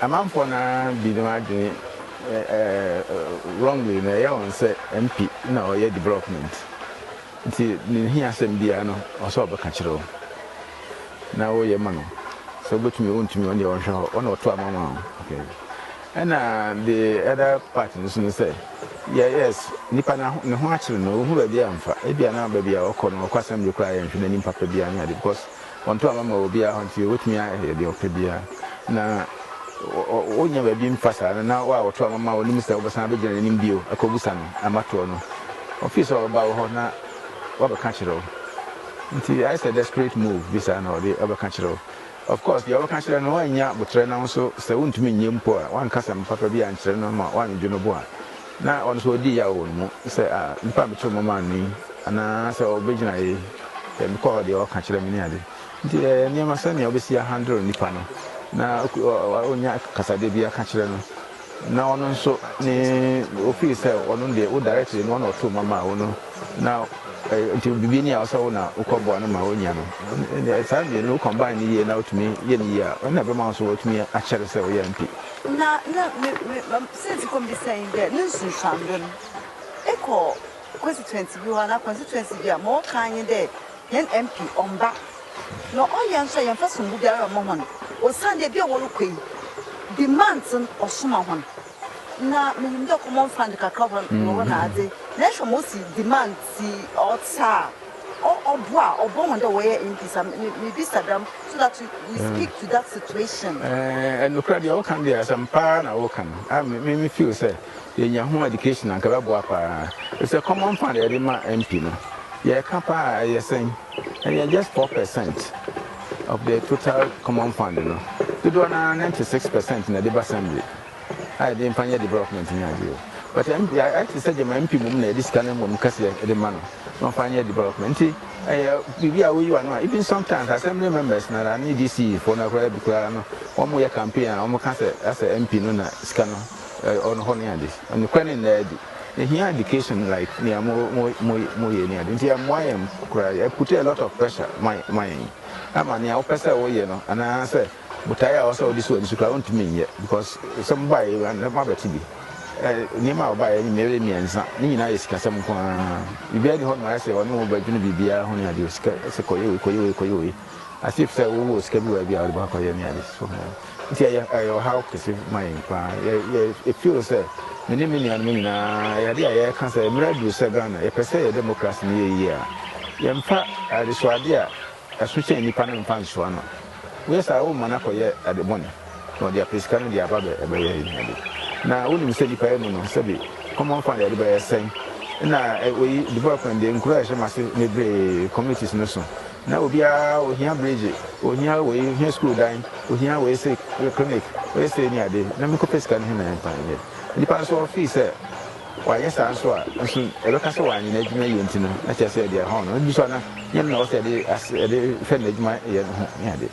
Amanfoɔ no ara binom adwene wrongly no ɛyɛ wɔn sɛ MP na ɔyɛ development nti ne hia asɛm biara no ɔsɛ ɔbɛka kyerɛ wo na woyɛ ma no sɛ wobɛtumi wontumi ɔne ɔnhwɛ hɔ ɔne ɔto ama ma wo okay ɛna the other part no so no sɛ yes nipa na ne ho akyere no wohu baabi amfa ebia na baabi a ɔkɔ no ɔkɔ assembly koraa yɛnhwɛ n'anim papa biara ne ade because Wɔnto aba mma obiara hɔ nti obetumi ayɛ deɛ ɔpɛ biara. Na wonnya baabi mfa saa no, na wo a wɔto aba ma wo no nim sɛ wobɛsan abɛgyina n'anim bio akɔbisa no ama toɔ no. Ɔfii sɛ ɔbɛba wo hɔ na wabɛka akyerɛ wo. Nti ayɛ sɛ desperate move bi saa na ɔde ɔbɛka kyerɛ wo. Of course, deɛ ɔbɛka akyerɛ no woannya boterɛ na wo nso sɛ wontumi nnyɛ mpo a, woanka asɛm papa bi ankyerɛ no ama wannwodwo no bo a, na ɔno nso ɔredi yaw wɔ ne mu sɛ, Ah, nnipa a mekyerɛw mo maa no yi, anaasɛ ɔbɛgyina ha yi, ɛɛ, mekɔ hɔ deɛ ɔka kyerɛ me ne ade. Nti ɛyɛ nneɛma sɛnea wobɛsi ahandle nnipa no, na wonya kasadeɛ bi aka kyerɛ no, na ɔno nso ne, wo feel sɛ ɔno deɛ wo directly no, ɔna ɔtoo ma maa wo no, na ɛɛ, nti biribi ni a ɔsɛ wo na wokɔ boa no ma ɔnya no. Ɛnneɛ saa mmienu wo combine no yie na wotumi yɛ no yie a, ɛna ɛbɛma wo nso woatumi akyɛre sɛ woyɛ MP. Na, na me, me, me. Siantsir kɔ mu bi sɛ nye dɛ no nsunsuando no, ekɔ constituency bi hɔ anaa constituency bi a, ma wɔkã ara nye dɛ hɛn MP ɔmmba. Na ɔyɛ a so a yɛmmfa sombo biara mma hɔn osiandɛ bi a wɔrokɔ yi, demands no ɔsoma hɔn. Na minyim dɛ common fund kakra wɔ hɔ na ɔwɔ n'adze, na ehwɛ ma osi demand si ɔtse a, Ɔ ɔbo a ɔbɔ hɔn dɛ wɔyɛ MPs a, me mibisa dɛm so that you you speak to that situation. Ɛɛ, nokorɛ deɛ woka no deɛ asɛm paa na woka no. A me me feel sɛ yɛnya ho education anka ɛbɛboa paa. Ɛfisɛ common fund a yɛde ma MP no, yɛka paa a ɛyɛ sɛn? Ɛyɛ just four per cent of the total common fund no. Dodoɔ no ara ninety six per cent na ɛde ba assembly. a yɛde mfa nyɛ development no ade o but MP ayɛ te sɛ gyama MP mmom na yɛde sika no mmom kɛseɛ de ma no na ɔmfa nyɛ development nti ɛyɛ biribi a woyi wa no a even sometimes assembly members na na ne DC foɔ no koraa bi koraa no wɔn yɛ campaign a wɔn ka sɛ asɛ MP no na sika no ɔno hɔ ne ade nokorɛ ne nnaa adi ehia education like nea mo mo mo mo yɛ ne ade nti ɛmmoa yɛn koraa ɛpute a lot of pressure ma ma yɛn ama nea wopɛ sɛ woyɛ no anaasɛ Botae a ɔsɛ ɔde si w'ani so koraa ontumi nyɛ because sɛ mobaeɛ a na moabɛte bi. Nneɛma a ɔbaeɛ no mmere mmiɛnsa ne nyinaa yɛ sikasɛm nko ara. Biribiara nni hɔnom a ayɛ sɛ ɔne wo bɛdwene biribiara ho ne adeɛ. Sika sɛ kɔyɛ wei kɔyɛ wei kɔyɛ wei as if sɛ wowɔ sika bi wɔ baabi a wode bɛkɔyɛ ne adeɛ so ho. Nti ɛyɛ ɛyɛ ɔhaw kɛse ma yɛn paa. Yɛ yɛ yɛ feel sɛ me ne me nuanom nyinaa ɛyɛ adeɛ a yɛka sɛ mmerɛ aduru sɛ Ghana yɛpɛ sɛ yɛ democracy no yɛ yie a yɛmfa adesoadeɛ a Ɛso sɛ nnipa no mfa nsoa no. Woyɛ saa a, worema no akɔyɛ ade bɔne, na ɔde apɛ sika no de aba abɛyɛ ahiade. Na wunim sɛ nnipa yi mu no, sɛbe kɔm amfa de ade bɛyɛ sɛn? Ɛnna woyi development de nkurow a ɛhyɛ mo ase bebree, communities, no so. Ná obiara, ohia bregye, ohia wei, ohia sukuu dan, ohia wei sei, clinic, wei sei ne ade, na menkɔpɛ sika no he na ɛmfa nyɛ. Nnipa nso wɔfii sɛ. Wayɛ saa nso a, nso yɛbɛka sɛ wanyɛ n'adwuma yie nti no, na kyerɛ sɛ deɛ ɛhaw no no bi so a na nyɛ no na ɛwɔ sɛ yɛde ase yɛde hwɛ n'adwuma yɛ no ho ne adeɛ.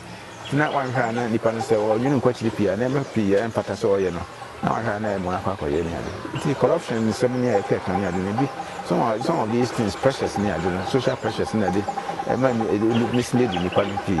Nti na wanhwɛ a na nipa no sɛ ɔnwene nkɔ akyiri pii a nneɛma pii a ɛmfata sɛ ɔyɛ no na wanhwɛ a na ɛyɛ mua akɔ akɔyɛ ne ade. Nti corruption nsɛm ne a yɛka ka ne ade no ebi some of some of these things pressures ne ade no social pressures na ɛde ɛma mislead nnipa no pii.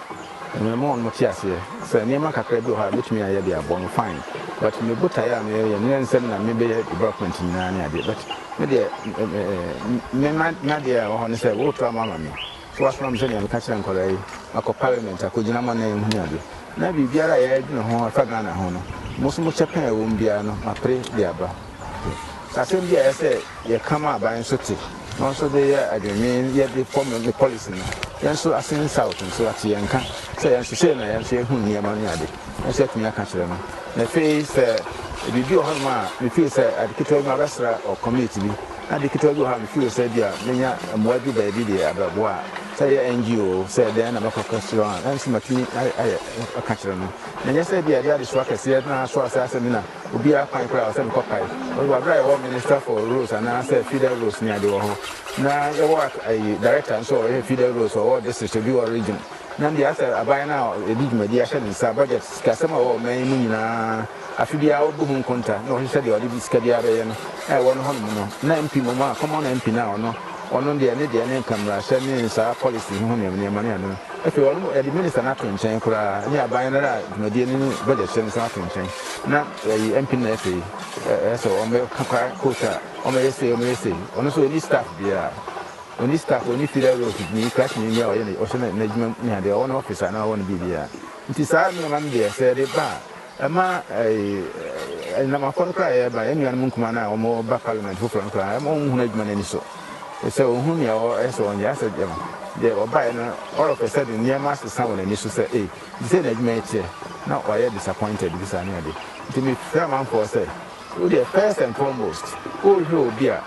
Ɛno ɛma wɔn te aseɛ sɛ nneɛma kakra bi wɔ hɔ a mɛtumi ayɛ de abɔ no fine but me botaeɛ a meyɛ yɛ nyɛ nsɛm na me bɛyɛ development nyinaa ne adeɛ but me deɛ me ma nadeɛ a ɛwɔ hɔ ne sɛ wo reto ama ama me so wasoma me sɛ nea meka kyerɛ nkwadaa yi akɔ parliament akɔ gyina mo anan mu ne adeɛ na biribiara a yɛadwene ho ɛfa Ghana ho no mo so mo kyɛ pɛn a ɛwɔ mu biara no mapere de aba asɛm bi a ɛsɛ yɛka ma aban nso te. Wɔn nso de yɛ adwennwen yɛ de fɔ me me policy no. Yɛn nso ase ne South nso ate yɛn nka sɛ yɛn nso sei na yɛn nso yɛhu nneɛma ne ade nso atumi aka akyerɛ no. Na afei sɛ biribi wɔ hɔnom a me feel sɛ ade ketewa bi mabɛsra wɔ community bi na ade ketewa bi wɔ hɔ a me feel sɛ ebia mɛnya mmoa bi baabi de abɛboa a sɛ ɛyɛ NGO o sɛ dɛn na mɛkɔ akɔsra wɔn a ɛno nso matumi ayɛ aka akyerɛ no. Na ɛnyɛ sɛ ebia ɛde adesoa kɛseɛ no ara so a sɛ asɛ me na obiara kwan koraa wɔ sɛ mekɔpae ɔno bɔ aberɛ a yɛwɔ minister for roads anaa sɛ feeder roads ne ade wɔ hɔ na yɛwɔ ayi director nso wɔ yɛ feeder roads ɔwɔ district obi wɔ region na deɛ asɛ aban no a yɛde dwumadi ahyɛ ne nsa budget sikasɛm a wɔwɔ ɔman yi mu nyinaa afe biara ɔbu ho nkonta na ɔhwehwɛ deɛ ɔde sika biara bɛyɛ no a ɛwɔ no hɔ nom no na mp mmom a common mp no a ɔno ɔno deɛ ne deɛ ne nka mmarahyɛ ne nsaa policy ho nneɛma nneɛma ne ade no afei ɔno yɛde minister no ato nkyɛn koraa ne aban no a dwumadie no ne budget hyɛ ne nsa ato nkyɛn. na yɛyi MP no afei ɛyɛ sɛ wɔn bɛ kaka court a wɔn bɛyɛ sei wɔn bɛyɛ sei ɔno nso ɔni staff biara ɔni staff ɔni feeder road ni crash ni biara ɔyɛ ne ɔhyɛ ne n'adwuma ne adeɛ ɔwɔ ne office anaa ɔwɔ ne biribiara nti saa nneɛma no deɛ sɛ yɛde ba a ɛma ɛɛ ɛnam afɔ no koraa yɛreba yɛn nuanom nkumaa no a wɔn ba parliament foforɔ no koraa ɛma wɔn hunu adwuma no ani so sɛ wɔn hunu nea ɛwɔ ɛsɛ wɔn yɛ asɛ deɛ ɔbaeɛ no all of a sudden nneɛma asesa wɔn ani so sɛ ee. Nti sɛ n'adwuma yɛ kyɛ na ɔyɛ disappointed bi saa ne ade nti me frɛ amanfoɔ sɛ wo deɛ first and foremost wo hwɛ obi a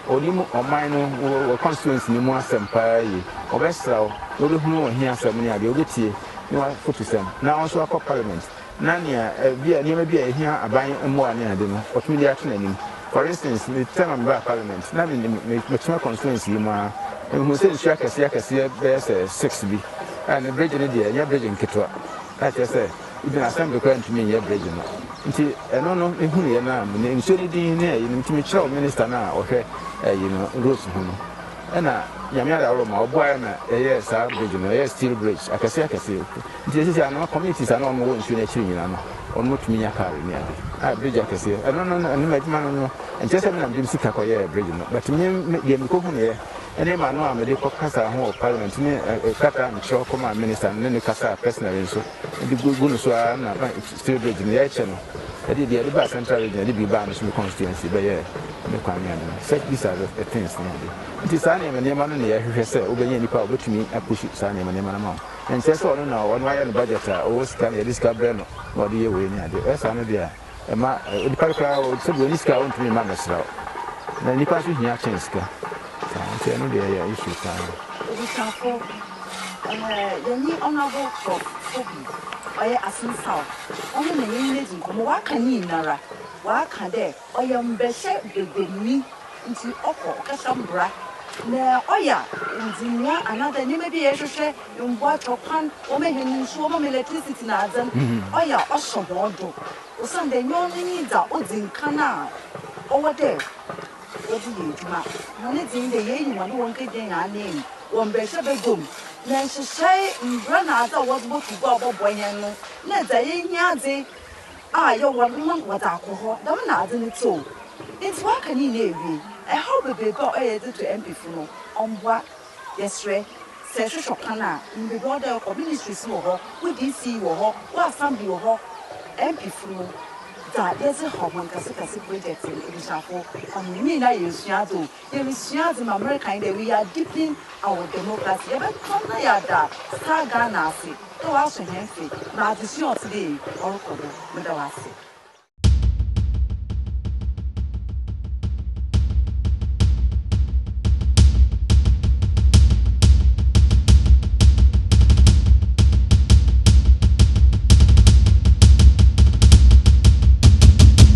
ɔnim ɔman no wɔ constituency no mu asɛm paa yie ɔbɛ sra wo na ɔbɛ hunu wo hiasɛm ne adeɛ ɔbɛ tie ne wa fotusɛm na wo nso akɔ parliament na nea ɛbia nneɛma bi a ɛhia aban mmoa ne ade no ɔtumi de ato n'anim For instance, me term a mebaa parliament, na minim, metena constituency yi mu ara, mehuu sɛ nsu akɛseɛ akɛseɛ bɛyɛ sɛ six bi, a ne bridge no deɛ ɛnyɛ bridge nketewa, a kyerɛ sɛ even assembly koraa ntumi nyɛ bridge no, nti ɛno no mehunuiɛ no a, menim nsuo no din ne ɛyinom, nti mekyerɛw minister no a ɔhwɛ ɛyi no, roads ho no, ɛna Nyame adaworo ma ɔboaeɛ ma ɛyɛɛ saa bridge no, ɛyɛɛ steel bridge akɛseɛ akɛseɛ. Nti ɛsɛ sɛ anaa communities a na wɔn wɔ nsuo no akyiri nyinaa no wɔn mo tumi nya car ne ade a bridge akɛseɛ ɛno no no ɛno adwuma no no nkyɛ sɛ menam dem sika kɔ yɛɛ bridge no but me me deɛ mekɔ hu neɛ ɛne ma no a mede kɔ kasa ho wɔ parliament ne kata mekyerɛ kɔ ma minister no ne ne kasa personally nso ɛde gu gu no so ara na steel bridge no yɛkyɛ no ɛde deɛ ɛde ba central region ɛde bi baa me so me constituency bɛyɛ ne kwan ne ade no such these are the things ne ade nti saa nneɛma nneɛma no ne yɛhwehwɛ sɛ wobɛnya nipa a wobɛtumi apusu saa nneɛma nneɛma no ma wo Ɛnkyerɛ sɛ ɔno na ɔno ayɛ ne budget a ɔwɔ sika na yɛde sika brɛ no na ɔde yɛ wei ne ade. Ɛyɛ saa no deɛ a, ɛma onipa no koraa sɛdeɛ ɔnni sika a ɔntumi mma mmɛsra wo. Na nnipa nso hia kyɛn sika. Saa nti ɛno deɛ ɛyɛ issue paa. Abusuafo, ɛɛ yɛnye Honourable Prof. Fobi, ɔyɛ Asin South, ɔno na yɛnye no edzi nkɔmbɔ. Ɔaka ne nyinara, ɔaka dɛ. Ɔya mbɛhyɛ bɛbɛnyi ntsi ɔkɔ ɔkasa mbra na ɔya ndzinoa anaadze ndzɛmba bi a yɛhwehwɛ mboa kyɛ kwan wɔma hɛn nsu wɔma hɛn electricity na adze no ɔya ɔhyɛ hɔn do osiandɛ nyɛ ɔno nye dza odzi nkan a ɔwɔ dɛ wɔdze yɛ edwuma hɔn dze nye dɛ yeyi hɔn dɛ wɔn kegyina hɛn anan mu wɔ mbɛhyɛ bɛgua mu na nhyehyɛe mbra na adze a wɔdze botu gua a ɔbɔboa hɛn no na dza yɛnyi adze a yɛwɔ no ma wɔdze akɔ hɔ, dɛm na adze no tse o. Ntsi wɔaka ne nyina ewie, ɛhaw beberebe a ɔyɛ dze to MP fo no, ɔmmboa. Yɛserɛ, sɛ ehwehwɛ kwan a, inyim beebi a ɔwɔ dɛ ekɔ, ministries no wɔ hɔ, wo DC wɔ hɔ, wo assembly wɔ hɔ, MP fo no, dza yɛdze haw hɔn kɛsekɛse projects no, ebusuafo, hom, ne nyina yɛ esuadze o. Yɛresua adze ma America nye dɛ we are deepening our democracy, yɛbɛtɔn na yɛada Star Ghana ase dɛ ɔaso hɛn mfe ma adzesua a ɔtse dɛ iyi ɔrokɔ do. Meda wo ase.